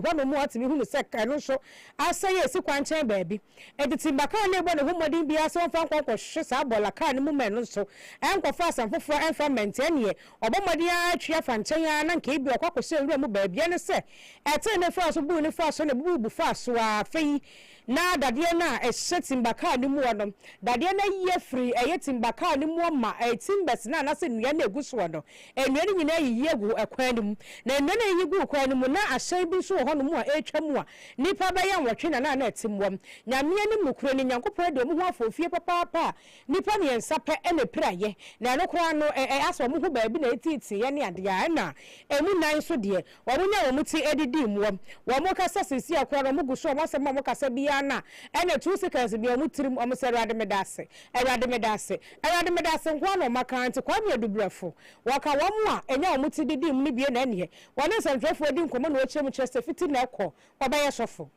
Hɔnom mu atumi hunu sɛ kar no nso asɛe a esi kwankyɛn baabi. Enti timba kar no rebɔ ne ho mmɔden biara sɛ ɔmfa nkɔ nkɔhwehwɛ saa bɔɔla kar no mu mmɛn no nso nkɔfa asɛm foforo a ɛmfa mmɛn nti ɛnneɛ ɔbɔ mmɔden ara atwi afa nkyɛn ara na nka ebia ɔkɔ akɔhyɛ nwura mu baabi ɛne sɛ ɛtee ne faa so buu ne faa so na ebubu faa so ara afei Na dadeɛ no a ɛhyɛ timba kaa no muɔ no, dadeɛ no ayi afiri ɛyɛ timba kaa no muɔ ma ɛyɛ timbers no anaasɛ nnua no a ɛgu soɔ no, nnua no nyinaa yiyi agu ɛkwan no mu. Na nnua no a ɛyiyi guu kwan no mu, na ahyɛn bi nso wɔ hɔnom a ɛretwa mu a nnipa bɛyɛ nwɔtwe na na na ɛte mu. Nyame anim nokorɛ ni, Nyankopɔn adi wɔn ho afɔɔfie papaapa a nnipa mmiɛnsa pɛ na ɛpiraeɛ, na ɛno koraa no, ɛ, ɛ, asɛ wɔn ho baabi na ɛtiitiiɛ ne adeɛ a, ɛna ɛmu nan nso deɛ, Wɔnya wɔn ti de di mmoa. Wɔkasa seesei a koraa no, wɔgu so, wɔn asɛm a wɔkasa biara no a ɛne two seconds bia wɔn tirim, wɔsɛ Awurade meda ase, Awurade meda ase, Awurade meda ase nko ara na wɔaka ara nti Kwame Adubrɛfo. Wɔka wɔn a ɛnya wɔn ti de di mu no bie na ɛneɛ wɔne nsɛntwerɛfoɔ di nkɔmmɔ na wɔkyerɛ mu kyerɛ sɛ fiti na ɛkɔ wɔbɛyɛ sɔfo.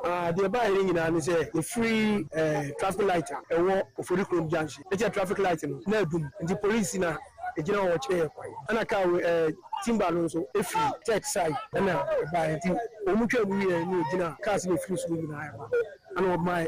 Ah, deɛ ɛbaeɛ no nyinaa ne sɛ yɛfiri eh, traffic light a ɛwɔ Ofori kurom junction ne kyɛ traffic light no na adum nti police na ɛgyina hɔ kyerɛ yɛ kwan ɛna kaa wei eh, timber no nso ɛfiri church side ɛna ɛbaeɛ nti wɔn twaa mu wieɛ ne wɔgyina cars na ɛfiri soro nyinaa ɛba ɛna wɔmaa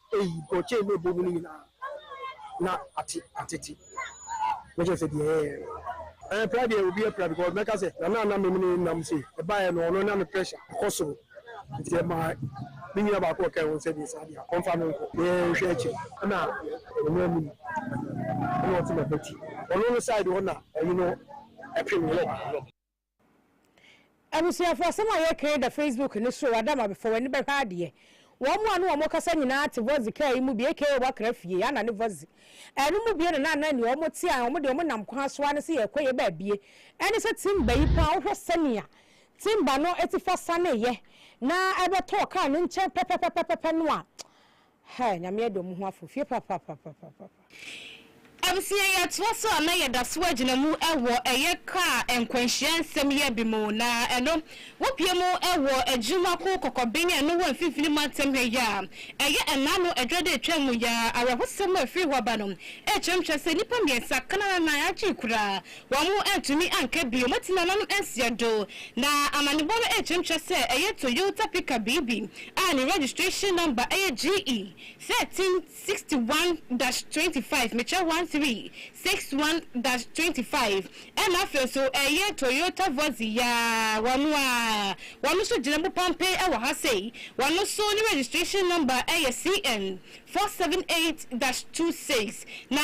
Eyi bɔgyee me bɔn mu no nyinaa na ate atete na kyerɛ sɛ deɛ ɛyɛɛ no. Ɛɛ pra deɛ obi apira because mɛka sɛ Nana a na me ne no nam sei ɛbaeɛ no ɔno na ne pressure kɔ soro nti ɛmaa me nua baako a ɔka ho sɛ deɛ saa deɛ a ɔmfa no nkɔ na yɛnhwɛ akyire ɛna ɔno anim ɛna ɔte m'abati ɔno no side hɔ na ɔyi no ɛpem no. Abusuafo asɛm a yɛkãe da Facebook no so ada ma fa w'ani bɛhwɛ adeɛ. Wɔn mo a ne wɔn mo kasa nyinaa te Vozi kaa yi mu bi aka wɔakra fie, Anna ne Vozi. Ɛno mu bie no na na nea wɔn te a wɔn deɛ wɔn nam kwan so ara ne sɛ yɛrekɔ yɛ baabie. Ɛne sɛ timba yi paa wohwɛ sɛnea timba no atifa saneeɛ na ɛbɛtɔɔ kaa no nkyɛn pɛpɛpɛpɛpɛ no a Hi, Nyame adom mo ho afofie papapapapapaapa. Abusua yɛ toa so a na yɛ da so agyina mu wɔ ɛyɛ kaa nkwanhyia nsɛm yɛ bi mu na ɛno wo pie mu wɔ adwuma ko kɔkɔben a ɛno wɔ mfimfini mantam ha yi a ɛyɛ ɛna ano adwa da atwa mu ya awerɛhosɛm a ɛfiri hɔ ba no ɛkyerɛmkyerɛ sɛ nnipa mmiɛnsa kanananan agye kura Wɔantumi anka bio ma tsi nananom ansia do, na amanyɔbɔ no rekyerɛkyerɛ sɛ ɛyɛ Toyota pick-up biribi a ne registration number yɛ GE thirteen sixty one dash twenty five, mekyerɛ one three six one dash twenty five, ɛna afei nso ɛyɛ Toyota Vozi yaa wɔn a wɔn nso gyina mu pampee wɔ ha sei, wɔn nso ne registration number yɛ CN four seven eight dash two six, na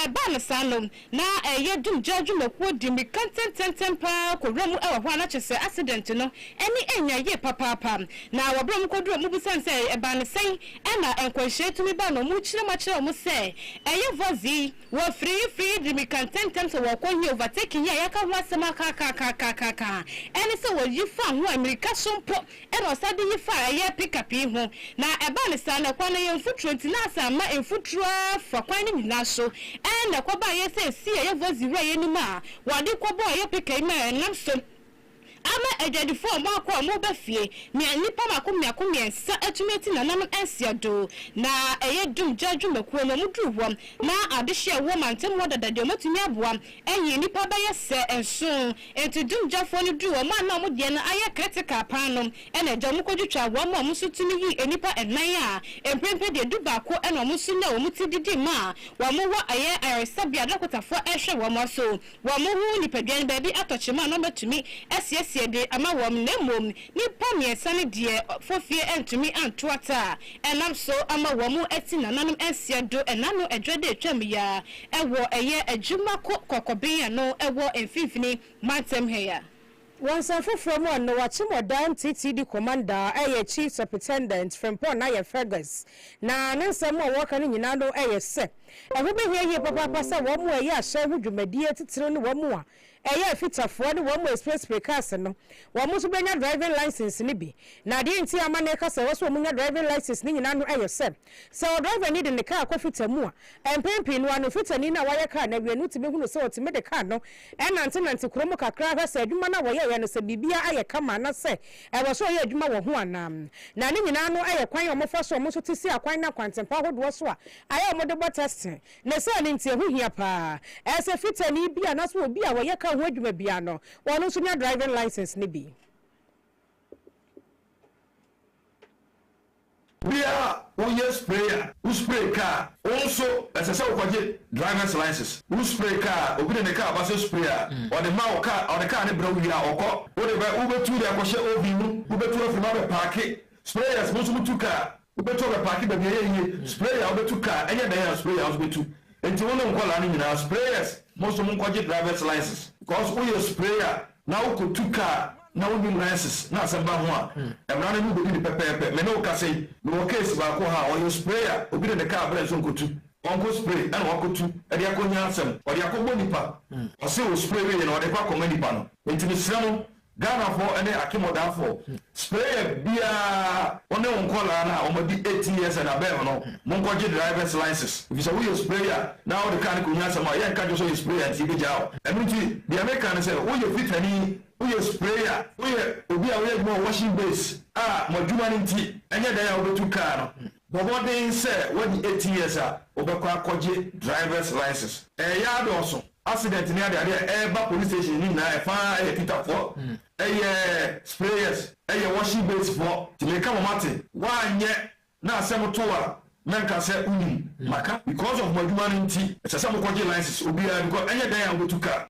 ɛbaa no saa no Na ɛyɛ dum gyaa dwumakuo de mirika ntɛntɛntɛm pa ara kɔ wura mu wɔ hɔ a na kyerɛ sɛ accident no ani nnya yie papaapa. Na wɔ berɛ a wɔkɔduruu hɔ mobisane sɛ ɛbaa no sɛn na nkwanhyia yi tumi baa no wɔkyerɛ mu akyerɛ wɔn sɛ ɛyɛ Vozi, wɔ frii frii de mirika ntɛntɛm sɛ wɔrekɔ he overtaking yi a yɛaka ho asɛm akaakaakaakaakaakaa ɛne sɛ wɔyi faa ho a mirika so mpo Ɛnna ɔsan de yi faa ɛyɛ pickup yi ho, na ɛbaa no saa no, kwan no yɛ mfuturo nti, na asan ma mfuturo ara fa kwan no nyinaa so. Ɛnna ɛkɔbaeɛ sɛ ɛsii ɛyɛ Vozi wura yi anim a wɔde kɔbɔɔ ɛyɛ pickup yi ma ɛnam so ama adwadifoɔ a wɔakɔ a wɔreba fie, nea nnipa mmaako mmiako mmiɛnsa atumi ati nananom nsia do. Na ɛyɛ dum gya dwumakuo no, wɔduruu hɔ, na adehyeɛ a ɛwɔ mantam hɔ dada deɛ, wɔatumi aboa Eyi, nnipa bɛyɛ sɛ nson. Enti dumgyafoɔ no duruu wɔn a na wɔn deɛ no ayɛ critical paa no, ɛna agya wɔn kɔtwitwaa wɔn ma wɔn nso tumi yii nnipa nnan a mprempren deɛ dubaako na wɔn nso nyaa wɔn ti didii ma wɔn wɔ ɛyɛ ayaresabea a dɔkotafoɔ rehwɛ wɔn aso wɔn ho nipadua no baabi atɔ kyema a na wɔatumi asiesie de ama wɔn na mmom nnipa mmiɛnsa no deɛ fofie antumi anto ata a ɛnam so ama wɔn ti nananom nsia do ɛna no adwa de atwam yi ara Ɛwɔ ɛyɛ adwuma kɔ kɔkɔben ano ɛwɔ mfinfini mantam ha yi a. Wɔ nsɛm foforɔ mu a, Noah Kyemɔdan TT di Commander a ɛyɛ Chief Supritendent Frimpong na yɛ Fergus na ne nsɛm mu a wɔka no nyinaa no ɛyɛ sɛ ɛho bɛhia yie papaapa sɛ wɔn a ɛyɛ ahyɛn ho dwumadie titire no wɔn a Ɛyɛ afitafoɔ ne wɔn mu express prekas no wɔn nso bɛnya driving license no bi. Na adeɛ nti a amanneɛ ka sɛ ɛwɔ sɛ wɔn nya driving license no nyinaa no yɛ sɛ, sɛ ɔdrivani de ne kaa kɔ fita mu a, mpɛn pii no ano fitani no a wayɛ kaa no awie no tumi hunu sɛ ɔtumi de kaa no nantenante kuro mu kakra hwɛ sɛ adwuma no a wɔyɛeɛ no sɛ biribiara ayɛ kama na sɛ ɛwɔ sɛ ɔyɛ adwuma wɔ ho anaa. Na ne nyinaa no yɛ kwan a wɔfa so a wɔn nso te si akwan ne akwantempa ahodoɔ so a ayɛ a wɔde bɔ testing. Na saa no nti ɛho hia paa sɛ fitani bi anaasɛ obi a ɔyɛ kar ho adwuma biara no, ɔno nso nya driving license no bi. Bere a woyɛ spray a, wo spray kar a, wo nso ɛsɛ sɛ wokɔgye drivers license. Wo spray kar a, obi de ne kar ba sɛ spray a, ɔde ma wo kar, ɔde kar no brɛ wo wie a, ɔkɔ. Wode bɛ, wobɛtu de akɔhyɛ oven mu, wobɛtu afiri mu abɛpaake. Sprayers, mo nso motu kar. Wobɛtu abɛpaake baabi ɛyɛ yie, sprayer a wobɛtu car ɛnyɛ dɛn a sprayer nso bɛtu, nti wo ne nkwadaa no nyinaa sprayers mo nso monkɔgye drivers license. Cos woyɛ sprayer na wokɔtu car na wonim license na asɛm ba ho a, mmara no ne wo bɛdi no pɛpɛɛpɛ. Me ne wo kasa yi, mewɔ case baako ha a ɔyɛ sprayer, obi de ne car brɛɛ no sɛ ɔnkɔtu, ɔnkɔ spray ɛna wakɔtu de akɔnya asɛm, ɔde akɔbɔ nipa, ɔse ɔspray wieeɛ no ɔde kɔ akɔma nipa no, nti mesrɛ mo Ghanafoɔ ne akemodafoɔ sprayer biara. Wo ne wo nkwadaa no a wɔn adi eighteen years and above no mo nkɔ gye drivers license efisɛ wo yɛ sprayer na wo de car no kɔ hia asɛm a yɛ nka kyerɛ sɛ ɔyɛ sprayer nti yɛ bɛ gyaa wo ɛno nti deɛ me ka ne sɛ wo yɛ fitani wo yɛ sprayer wo yɛ obi a wo yɛ adwuma wɔ washing base a mo adwuma no nti ɛnyɛ dan a wo bɛ tu car no. Bɔ mmɔden sɛ woadi eighteen years a, wobɛkɔ akɔgye driver's license. Ɛyɛ a dɔɔso. Accident ne adeade a ɛba police station no nyinaa ɛfa ara yɛ titafoɔ, ɛyɛ sprayers, ɛyɛ washing base foɔ, nti meka mo mate. Woanyɛ na asɛm to a, mɛnka sɛ wonim, maka because of mo adwuma no nti, ɛsɛ sɛ mokɔgye license, obiara, because ɛnyɛ dɛn a wobɛtu car.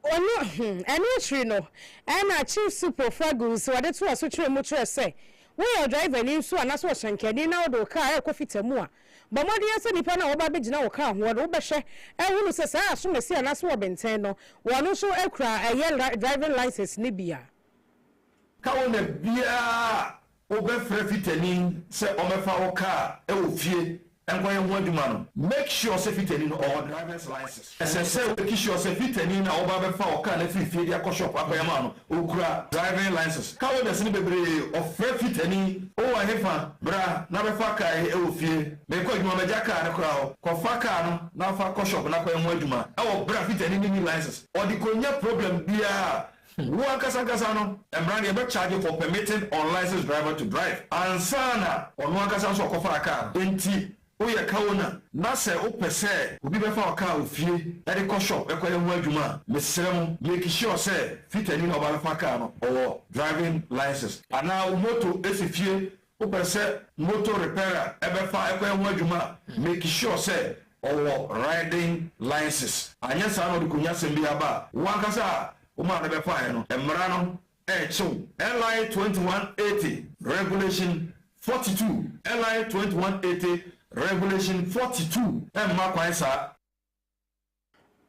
Ɔno, ɛno akyiri no, ɛna Chief Supo Fergus wɔde to asokyerɛ mu kyerɛ sɛ woyɛ ɔdrivani nso anaasɛ ɔhyɛnkani na wode wo kaa rekɔ fita mu a, bɔ mmɔden ara sɛ nnipa no a wɔba abɛgyina wo kaa ho no wobɛhwɛ ahunu sɛ saa asomasi anaasɛ wɔ benten no wɔn nso kura ɛyɛ driving license no bi a. Ka wo na biara a Wobɛfrɛ fitani sɛ ɔmɛfa wo car wɔ fie nkɔyɛ ho adwuma no. Make sure sɛ fitani no ɔwɔ driver's license. Ɛsɛ sɛ wake sure sɛ fitani no a woba abɛfa wo car no afiri fie de akɔ shop akɔyɛ ama wo no ɔkura driving license. Car owners no bebree ɔfrɛ fitani, Wowɔ ɛhefa? Bra na bɛfa car yi wɔ fie. Merekɔ adwuma magya car no koraa hɔ. Kɔfa car no na fa kɔ shop na kɔyɛ ho adwuma wɔ berɛ a fitani no nni license. Ɔde kɔnya problem biara a Wo ankasa ankasa no mmara no yɛbɛ charge for permitting unlicensed driver to drive ansa na ɔno ankasa nso ɔkɔfaa car no. Enti woyɛ car owner na sɛ wopɛ sɛ obi bɛfa wo car wɔ fie de kɔ shop kɔyɛ ho adwuma a, mesrɛ mo make sure sɛ fitani na ɔba bɛfa car no ɔwɔ driving license. Anaa wo motor si fie Wopɛ sɛ motor repairer bɛfa kɔ yɛ ho adwuma a, make sure sɛ ɔwɔ riding license. Anyɛ saa na ɔde konyasɛm bi aba a, wo ankasa a wo maa no bɛfaeɛ no, mmara no rekye wo. LI twenty one eighty, Regulation forty two, LI twenty one eighty, Regulation forty two, mma kwan saa.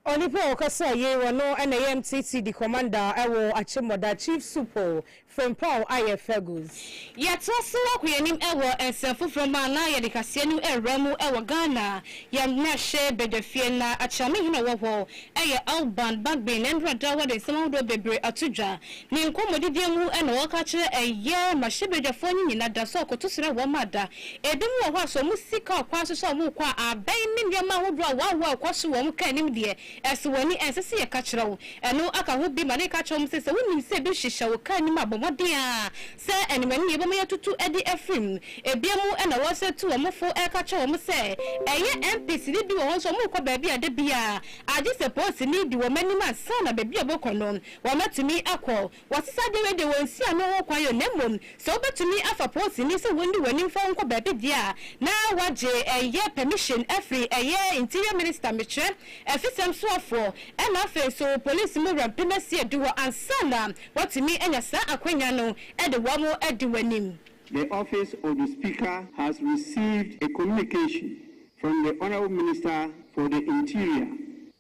Onipa a ɔkasaa yei, ɔno na ɛyɛ MTC di kɔmanda wɔ Akyemmɔda, Chief Supo Frimpong Ayɛ Fergus. Yɛtoa so akɔ yɛn anim wɔ nsɛm foforɔ mu a na yɛde kaseɛ no rewura mu wɔ Ghana, yɛn mmarahyɛ badwafie. Na Akyerɛme hene a ɔwɔ hɔ yɛ Alban Bagbin, na nnora da wɔde nsɛm ahodoɔ bebree ato dwa. Ne nkɔmmɔdidie mu na ɔreka akyerɛ yɛn mmarahyɛbadwafoɔ no nyinaa da sɛ ɔkoto serɛ wɔn ma da Ebinom wɔ hɔ a, sɛ wɔn sika ɔkwan so sɛ wɔkɔ a, abɛn ne nneɛma ahodoɔ a wɔawoɔ a ɛkɔ so wɔ wɔn kaa anim deɛ, ɛsɔ wɔn ani. Ɛnsɛ sɛ yɛka kyerɛ wo. Ɛno aka ho bi ma na yɛka kyerɛ wɔn sɛ, sɛ wonim sɛ ebi hyehyɛ wo kaa anim a, bɔ mmɔden ara sɛ ɛne w'ani yɛ wobɛma yɛatutu de afiri mu. Ebinom na wɔsane tu wɔn fo ka kyerɛ wɔn sɛ, ɛyɛ MPsini bi wɔ hɔ nso wɔkɔ baabi a da biara, agye sɛ polisini di wɔn anim ansa na baabi a wɔkɔ no, wɔatumi akɔ. Wɔsesa dawur de wɔn nsi ano ho kwan o, na mmom sɛ wobetumi afa poosini sɛ wonni w'ani mfa wo nkɔ baabi deɛ a, na wɔagye ɛyɛ pɛmihyin afiri ɛyɛ Interior Minister mekyerɛ, afisɛm soafoɔ, ɛna afei nso polisi mu wura mpem asia du hɔ ansa na wɔatumi anya saa akwanya no de wɔn adi w'anim. The office of the Speaker has received a communication from the Honourable Minister for the Interior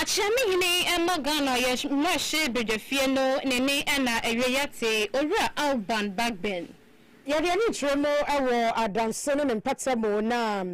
Akyea me hene mma Ghana yɛ mmarahyɛ badwafie no ne ne ɛna awiei ate Owura Alban Bagbin. Yɛde ani kyerɛ mu wɔ adanse ne ne mpata mu na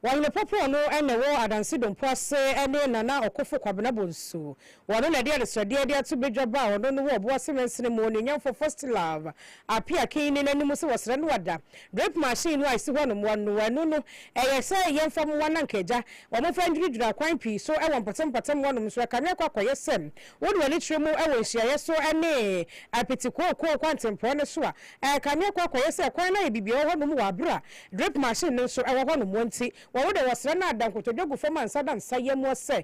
Wahene Popoɔ no na ɛwɔ Adanse Dompo ase ne Nana Ɔkofo Kwabena Bonsu Wɔno na ɛde adesoadeɛ de ato badwa baa ɔno no wɔ ɔbo ase mansini mu, Onuonyamfoɔ Fostilove, Apia Akinyi no anim sɛ wɔsrɛ no ada. Drip machine no a ɛsi hɔ nom, wɔn no ɛno no, ɛyɛ sɛ yɛmfa mmoa na anka agya. Wɔfa nnwuradwura akwan pii so wɔ mpɔtam-mpɔtam hɔnom nso, ɛkame akɔ akɔyɛ sɛ wode w'ani kyerɛ mu wɔ nhyiaeɛ so ne apiti kookoo kwantempɔn no so a, ɛkame akɔ akɔyɛ sɛ kwan no ayɛ bibiaa wɔ hɔnom wɔ aberɛ a drip machine no nso wɔ hɔnom nti, wɔno deɛ wɔsrɛ no ada nkotodwe gu fam a nsa da nsa yam sɛ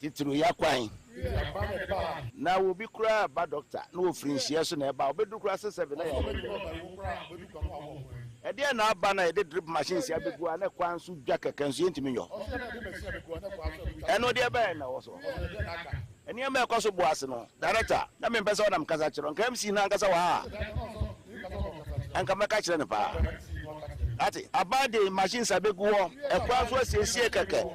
Titiriw ya kwan. Na wɔ bi koraa reba dɔkta na wɔfiri nhyeɛ so na ɛba a, wɔbɛduru koraa sɛ sɛbe na yare no awu. Ɛdeɛn na aba na yɛde drip machine si abɛgu a na kwan so dwa kɛkɛ nso yɛntumi nyɛ hɔ? Ɛno deɛ ɛbɛn na ɛwɔ so hɔ? Nneɛma a ɛkɔ so bɔ ase no, Director, na mempɛ sɛ wonam kasa kyerɛ, nka MC no ankasa wɔ ha a, anka mɛka kyerɛ no paa. Ate? Aba deɛ machines abɛgu hɔ, ɛkwan so asiesie kɛkɛ.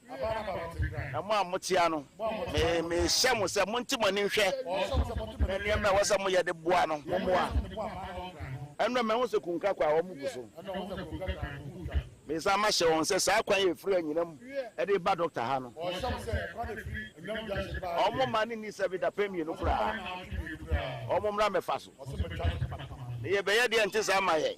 Na mo a moteɛ no, mehyɛ mo sɛ monte mo ani nhwɛ, na nneɛma a ɛwɔ sɛ moyɛ de boa no, mommoa. Ɛnna mahu sɛ kunka kwa a wɔgu so. Mesan mahyɛ wɔn sɛ saa kwan a ɛfiri anyinam de reba dɔkta ha no, wɔmma no nni sɛ bi dapɛn mmienu koraa. Wɔmmra mmɛfa so, na yɛbɛyɛ deɛ ɛnte saa mma yɛn.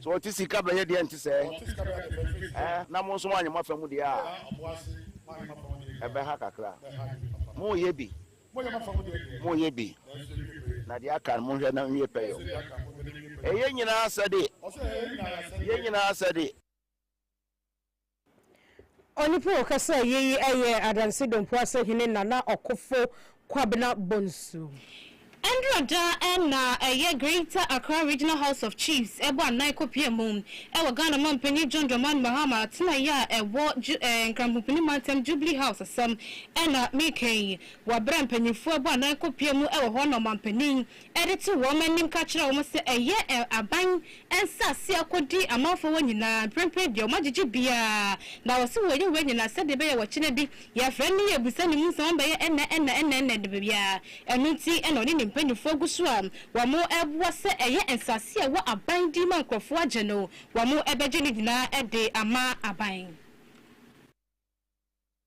Sɛ ɔte sika bɛyɛ deɛ ɛnte sɛ ɛ na mo nso moanyɛ mo afa mu deɛ a ɛbɛha kakra. Moreyɛ bi, moreyɛ bi, na deɛ aka no monhwɛ na nwie pɛyɛ o. Ɛyɛ nyinaa asɛde, yɛ nyinaa asɛde. Onipa a ɔkasaa yie yi yɛ Adansi Dompo Asehene Nana Ɔkofo Kwabena Bonsu. Ɛndura da na ɛyɛ Greater Accra Regional House of Chiefs ɛbɔ anan kɔpia mu wɔ Ghana Mampanyin John Dramani Mahama atenaeɛ a ɛwɔ Nkramhopini Mantam Jubilee House asɛm na mereka yi wɔ berɛ a mpanyinfoɔ ɛbɔ anan kɔpia mu wɔ hɔ na Ɔmanpanin de to wɔn anim ka kyerɛ wɔn sɛ ɛyɛ aban nsase a ɔkɔdi amanfoɔ hɔ nyinaa, mprempren deɛ wɔagyegye biara, na wɔse wɔyɛ wei nyinaa sɛdeɛ ɛbɛyɛ wɔkyena bi yɛfrɛ no yɛbisa ne mu nsɛm wɔn bɛyɛ ɛnna ɛnna ɛnna ɛnna ɛnna biara, ɛno nti na ɔne ne mpanimfoɔ gu so a wɔreboa sɛ ɛyɛ nsase a ɛwɔ aban din mu a nkurɔfoɔ agye no wɔbɛgye ne nyinaa de ama aban.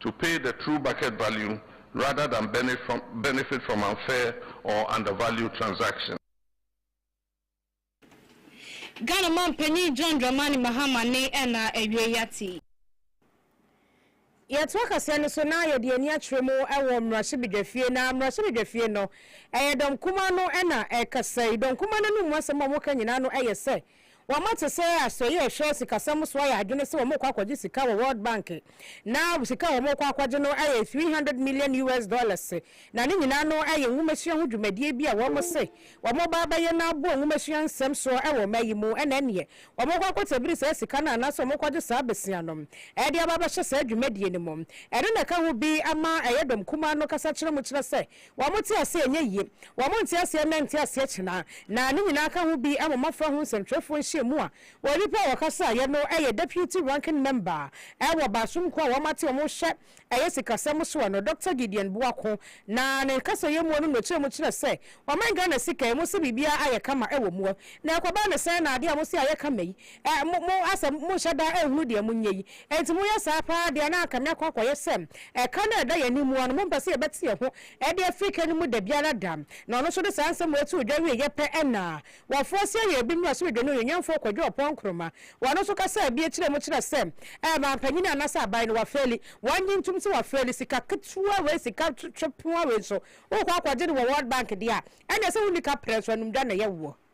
To pay the true bucket value rather than benefit from unfair or undervalued transaction. Ghana Manpanin John Dramani Mahama ne na awiei ate yi. Yɛtoa kaseɛ no so na yɛde ani akyerɛ mu wɔ mmarahyɛbedwafie. Na mmarahyɛbedwafie no, ɛyɛ dɔm kumaa no na ɛkasa yi. Dɔm kumaa no anom mu asɛm a wɔka nyinaa no yɛ sɛ. Wɔma te sɛ asoɛeɛ a ɛhwɛ sikasɛm so ayɛ adwene sɛ wɔrekɔ akɔgye sika wɔ World Bank, na sika a wɔrekɔ akɔgye no yɛ three hundred million US dollars, na ne nyinaa no yɛ nwomasua ho dwumadie bi a wɔse wɔreba abɛyɛ na aboa nwomasua nsɛm soɔ wɔ ɔman yi mu, ɛna ɛneɛ wɔrekɔ akɔtabiri saa sika no anaasɛ wɔrekɔgye saa bɛsia no de aba abɛhyɛ saa dwumadie no mu. Ɛno na ɛka ho bi ama ɛyɛ dɔm kumaa no kasa kyerɛ mu kyerɛ sɛ Wɔn te aseɛ nyɛ yie. Wɔn nte aseɛ nnɛ nte aseɛ kyena. Na ne nyinaa ka ho bi wɔ mmɔfra ho nsɛntwerɛfoɔ nhyiamu a onipa a ɔkasaeɛ no yɛ Deputy Ranking Member wɔ Baasomkuo a wɔate wɔn hwɛ ɛyɛ sikasɛm soɔ no, Dɔkta Gideon Boako. Na ne kasayɛ mu no nokyerɛ mu kyerɛ sɛ wɔman Ghana sika yi, mose biribiara ayɛ kama wɔ mu. Na ɛkɔba ne sɛn na adeɛ a mose ayɛ kama yi Ɛ, mo, mo asɛ monhyɛ da nhunu deɛ monyɛ yi. Enti moyɛ saa paa deɛ a, na anka meakɔ akɔyɛ sɛ ɛka no a ɛda yɛn anim mu ara no, mompɛ sɛ yɛbɛte yɛn ho de afiri ka no mu dabiara da. Na ɔno nso de saa nsɛm wei too dwa wieeɛ pɛ na wɔfoɔ asia yɛn bi mmaraso dwa no onuonyamfoɔ Kwadwo Ɔpɔn Nkrumah. Ɔno nso kasaa bi kyerɛɛ mu kyerɛɛ sɛ ɛ, manpanyin anaasɛ aban no wafeeli. Wɔnnye ntom sɛ wafeeli. Sika ketewa wei, sika twe, twe, poa wei nso, wokɔ akɔgye no wɔ World Bank deɛ a, ɛnneɛ sɛ wonni kaprɛ nso, anumdwa na ɛyɛ woɔ.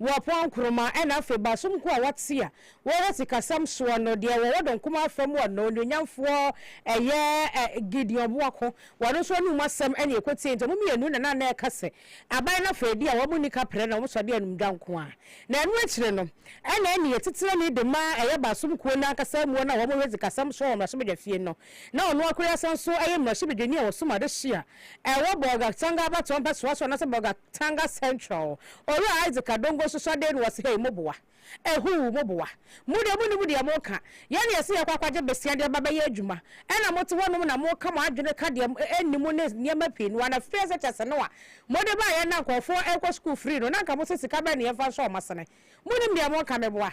Wɔpɔn nkruma na afei baasom nko a wɔte a wɔwɔ sikasɛm soɔ no deɛ wɔwɔ dɔn kumaa afa mu a na onuonyamfoɔ ɛyɛ Gideon Boako wɔn nso anum asɛm na ɛkɔtiee nti wɔn mmienu na na na ɛka sɛ aban no afei deɛ wɔn nni kaprɛ na wɔn sɔde anum dwa nko ara na ɛno akyire no na ɛne ɛtitenani de ma ɛyɛ baasom kuo no ankasa muo no a wɔn hwɛ sikasɛm soɔ wɔ mmarahyɛbadwafie no na ɔno akoreasa nso ɛyɛ mmarahyɛbadwani a ɔsom adehye a ɛwɔ Bolgatanga abatoɔ mpɛsoa so anaasɛ Bolgatanga Central. Owura Isaac Adongo nso sɔ deen wɔ se, Hei, moboa. Ehuu, moboa. Mo deɛ, monnim deɛ moka. Yɛn na yɛse yɛkɔ akɔgye besia de aba bɛyɛ adwuma, ɛna mote hɔnom na moka mo adwene ka deɛ ɛnni mu ne nneɛma pii no a, na fie sɛkyɛse no a mode baeɛ na nkurɔfoɔ rekɔ sukuu firii no, na anka mose sika bɛn na yɛmfa nsɔ wɔn asene. Monnim deɛ moka, meboa.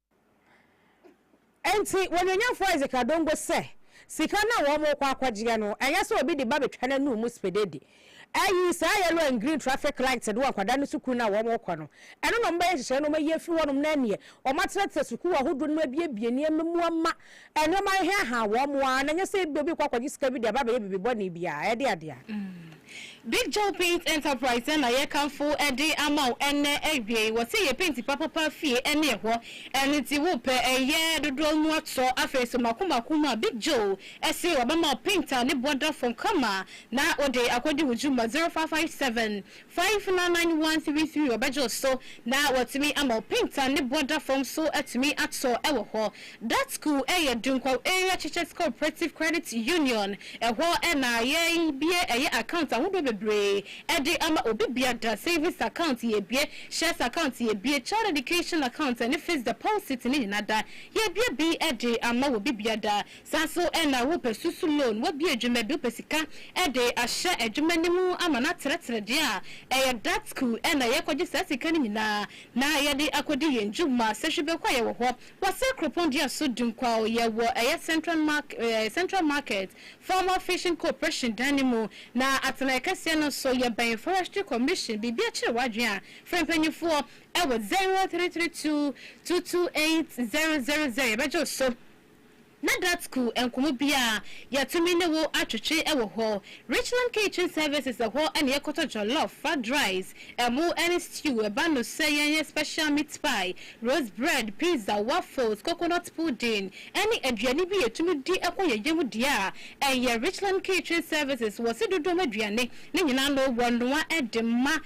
Enti Onuonyamfo Isaac Adongo sɛ, Sika no a wɔrekɔ akɔgyeɛ no, ɛnyɛ sɛ obi de ba bɛtwa n'anum mu spededi. Ayi, saa yellow and green traffic lights no wɔ nkwadaa no sukuu no a wɔrekɔ no, ɛno na wɔbɛyɛ nhyehyɛeɛ na wɔayi afiri hɔnom na ɛnneɛ wɔatenatena sukuu ahodoɔ no mu abuebue nneɛma mu ama Nneɛma no he ahaw wɔn ara, na nyɛ sɛ ebia obi rekɔ akɔgye sika bi de aba abɛyɛ biribi bɔne bi a ɛde ade a. Big Joe Paint Enterprise na yɛkamfo de ama wo ɛnnɛ awiei. Wɔse yɛ penti papapa fie ne ɛhɔ, ɛno nti wopɛ ɛyɛ dodoɔ mu atɔ. Afei nso mako mako mu a, Big Joe se wɔbɛma wo paint a ne boɔ da fɔmm kama na wode akɔdi wo dwuma, 0557 Fa mfena nan wan sirisiri ɔbɛdwo so na watumi ama opinta ne bɔ da fam so atumi atɔ wɔ hɔ. That school yɛ Dunkwaw Area Churches Cooperative Credit Union. Ɛhɔ na yɛ bue ɛyɛ account ahodoɔ bebree ɛde ama obi bia da savings account yɛ bue, shares account yɛ bue, child education account ɛne fixed deposit ne nyina da yɛ bue bi ɛde ama wɔ bi bia da. Saa nso na wopɛ susu loan, wabue dwuma bi, wopɛ sika de ahyɛ adwuma no mu ama no atrɛtrɛ deɛ a, ɛyɛ DATCU na yɛkɔgye saa sika no nyinaa na yɛde akɔdi yɛn dwuma. Sɛ Hwibekwa yɛwɔ hɔ, wɔ Sir Kuropɔn Dua so Dunkwao, yɛwɔ ɛyɛ Central Mark ɛɛ Central Market Formal Fishing Cooperation dan no mu, na atenaeɛ kɛseɛ no nso yɛbɛn Forestry Commission. Biribi akyere w'adwene a, frɛ mpanimfoɔ ɛwɔ zero three three two two two eight zero zero zero, yɛbɛgye wo so. Na Gatku nkomo biaa yɛtumi ne wo atwetwe wɔ hɔ. Richland Kitchen Services ɛhɔ na yɛkɔtɔ jollof, fried rice, ɛmo ne stew, ɛba no sɛ yɛnyɛ special meat pie, roast bread, pizza, waffles, coconut pudding ne aduane bi yɛtumi di kɔ yɛn yam deɛ a ɛyɛ Richland Kitchen Services wɔ se dodoɔ mu aduane no nyinaa no wɔnoa de ma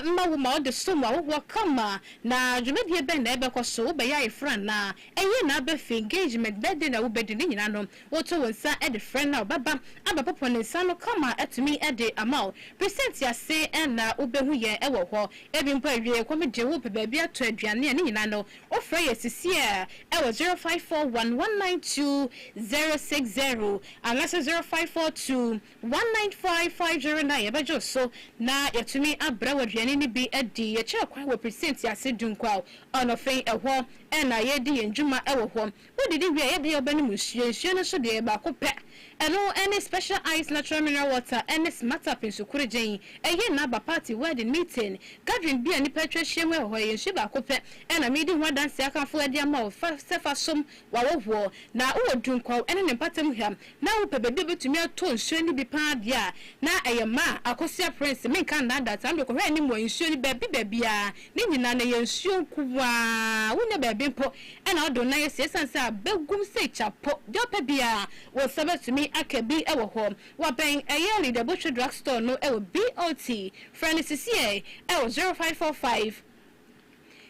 ma wo ma wode som wo ahohoɔ kama. Na dwumadie bɛn na ɛbɛkɔ so? Wobɛyɛ ayeforo anaa? Eyi na abefi engagement bɛde na wobedi ne nyinaa no woto wo nsa de frɛ no a ɔbɛba abɛpopo ne nsa no kama atumi de ama wo. Present ase na wobehu yɛn wɔ hɔ. Ebi mpo awiei kɔm de wo pɛ baabi atɔ aduane a ne nyinaa no wofrɛ yɛn sisi a ɛwɔ zero five four one one nine two zero six zero anaasɛ zero five four two One nine five five zero nine Yɛbɛgye wo so na yɛatumi abrɛ wo aduane no bi adi. Yɛkyerɛ kwan wɔ Presier Ntease Du Nkwao, Ɔnɔfen, ɛhɔ na yɛredi yɛn dwuma wɔ hɔ. Wodidi wie a, yɛde wobɛnom nsuo. Nsuo no nso deɛ, baako pɛ. Ɛno ne Special Ice Natural Mineral Water ne Smartup Nsukorogyen. Ɛyɛ nna aba party, wedding, meeting, gathering bi a nnipa atwa ahyiam wɔ hɔ. Ɛyɛ nsuo baako pɛ na medi ho adanseɛ akamfo de ama wo sɛ fa som W'awɔ woɔ, na wowɔ dunkwaw ɛne ne mpatam hwam, na wopɛ baabi a wobɛtumi atɔ nsuo no bi paa deɛ a, na ɛyɛ ma a, Akosua Prince, menka nnaadaa saa, mede kɔhwɛ anim wɔ nsuo no baabi baabiara, ne nyinaa no ɛyɛ nsuo nko ara, wonnya baabi mpo na wode wo nan asi, ɛsiane sɛ abɛgum sei kya po, deɛ wopɛ biara wo nsa bɛtumi aka bi wɔ hɔ. Wabɛn ɛyɛ Leader Botwe Drug Store no wɔ BOT, frɛ no sisiɛ wɔ zero five four five.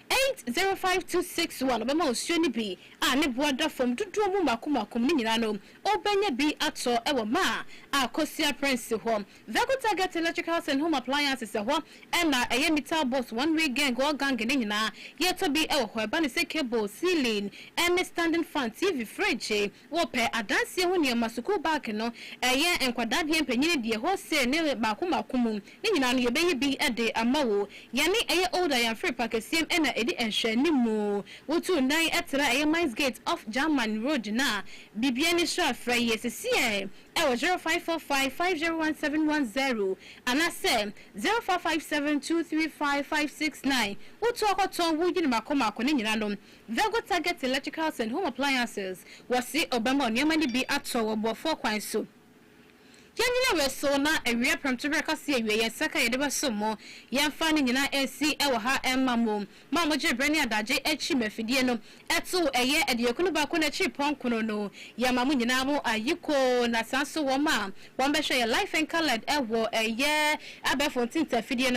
Eight zero five two six one Ɔbɛma osuo no bi a ne boɔ da fam dodoɔ mu mako mako mu no nyinaa no wobɛnya bi atɔ wɔ ma a Kosia Prince hɔ Veco Target Electricals and Home Appliances ɛhɔ na ɛyɛ Meter Box One Way Gang All Gang ne nyinaa yɛtɔ bi wɔ hɔ ɛba ne sɛ Cable, Ceiling ne Standing Fan, TV, Fridge, Wopɛ adanseɛ ho nneɛma, sukuu baage no, ɛyɛ nkwadaa deɛ, mpanin deɛ, wholesale ne baako baako mu, ne nyinaa no yɛbɛyi bi de ama wo. Yɛne ɛyɛ Old Ayamfiri Pakɛseɛm na ɛdi nhwɛanimu. Wotuu dan traa ɛyɛ Mines Gate off German Road no a, biribiara ani sra frɛ yɛ sesiɛ wɔ 0545 501710 anaasɛ 0557 235 569. Wotu akɔtɔn, woyi no mmaako mmaako, ne nyinaa no Vego Target Electricals and Home Appliances, Wɔse ɔbɛma nneɛma no bi atɔ wɔ boɔfoɔ kwan so. Yɛnyina wei so na awia prɛmto berɛ kɛseɛ awie yɛn nsa ka yɛde bɛsom mo. Yɛmfa ne nyinaa nsi wɔ ha mma mo. Mo a mogyee berɛ ne adagye akyi ma afidie no too ɛyɛ adiyɛkunu baako no akyiri pɔnkno no, yɛma mo nyinaa mo ayiko na saa nso wɔn a wɔbɛhwɛ yɛn life and coloured wɔ ɛyɛ abɛɛfo ntinta afidie no